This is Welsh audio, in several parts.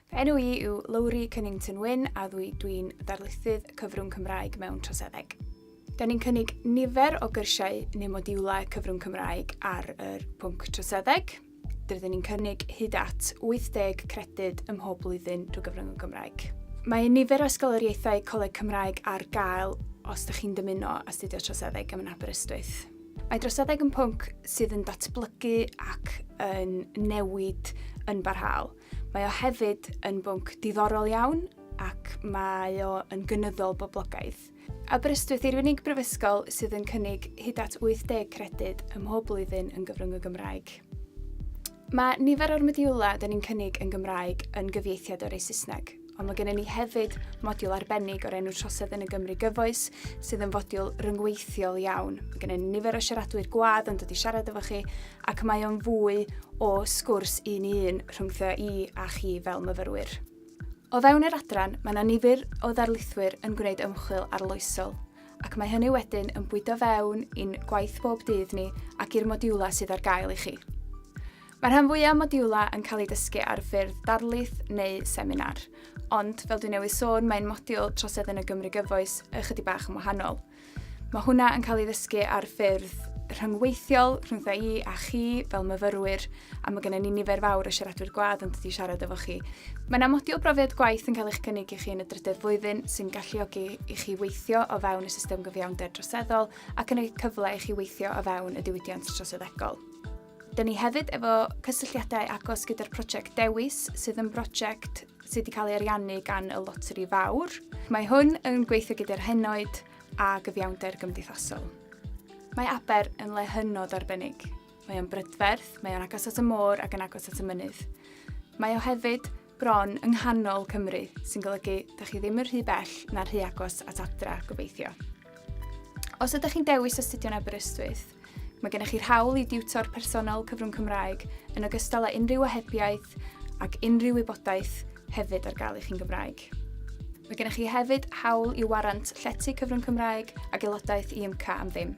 Fy enw i yw Lowri Cunnington Wyn a ddwy dwi'n ddarlithydd cyfrwng Cymraeg mewn troseddeg. Da ni'n cynnig nifer o gyrsiau neu modiwlau cyfrwng Cymraeg ar yr pwnc troseddeg. Rydyn ni'n cynnig hyd at 80 credyd ym mhob blwyddyn drwy gyfrwng y Gymraeg. Mae nifer o ysgoloriaethau Coleg Cymraeg ar gael os ydych chi'n dymuno astudio troseddeg yn Aberystwyth. Mae droseddeg yn pwnc sydd yn datblygu ac yn newid yn barhaol. Mae o hefyd yn bwnc diddorol iawn ac mae o yn gynyddol boblogaidd. Aberystwyth yw'r unig brifysgol sydd yn cynnig hyd at 80 credyd ym mhob blwyddyn yn gyfrwng y Gymraeg. Mae nifer o'r modiwlau dyn ni'n cynnig yn Gymraeg yn gyfieithiad o'r ei Saesneg. Ond mae gennym ni hefyd modiwl arbennig o'r enw Trosedd yn y Gymru Gyfoes, sydd yn fodiwl ryngweithiol iawn. Mae gennym ni nifer o siaradwyr gwad yn dod i siarad efo chi, ac mae o'n fwy o sgwrs un i un rhwngthio i a chi fel myfyrwyr. O fewn yr adran, mae yna nifer o ddarlithwyr yn gwneud ymchwil arloesol, ac mae hynny wedyn yn bwydo fewn i'n gwaith bob dydd ni ac i'r modiwlau sydd ar gael i chi. Mae rhan fwyaf modiwlau yn cael eu dysgu ar ffurf darlith neu seminar, ond fel dwi newydd sôn mae'n modiwl troseddyn y Gymru gyfoes ychydig bach yn wahanol. Mae hwnna yn cael ei ddysgu ar ffurf rhyngweithiol rhyngtho i a chi fel myfyrwyr a mae gennym ni nifer fawr o siaradwyr gwad yn dod i siarad efo chi. Mae yna modiwl brofiad gwaith yn cael eich cynnig i chi yn y drydedd flwyddyn sy'n galluogi i chi weithio o fewn y system gyfiawnder droseddol ac yn ei cyfle i chi weithio o fewn y diwydiant troseddegol. Da ni hefyd efo cysylltiadau agos gyda'r prosiect Dewis, sydd yn brosiect sydd wedi cael ei ariannu gan y Loteri Fawr. Mae hwn yn gweithio gyda'r henoed a gyfiawnder gymdeithasol. Mae Aber yn le hynod arbennig. Mae o'n brydferth, mae o'n agos at y môr ac yn agos at y mynydd. Mae o hefyd bron yng nghanol Cymru, sy'n golygu da chi ddim yn rhy bell na rhy agos at adra, gobeithio. Os ydych chi'n dewis astudio'n Aberystwyth, Mae gennych chi'r hawl i diwtor personol cyfrwng Cymraeg yn ogystal â unrhyw ohebiaeth ac unrhyw wybodaeth hefyd ar gael i chi'n Gymraeg. Mae gennych chi hefyd hawl i warant llety cyfrwng Cymraeg ac aelodaeth i ymca am ddim.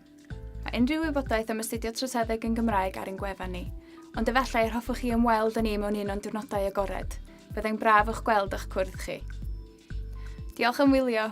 Mae unrhyw wybodaeth am astudio troseddeg yn Gymraeg ar ein gwefan ni, ond efallai yr hoffwch chi ymweld â ni mewn un o'n diwrnodau agored. Byddai'n braf o'ch gweld a'ch cwrdd chi. Diolch am wylio!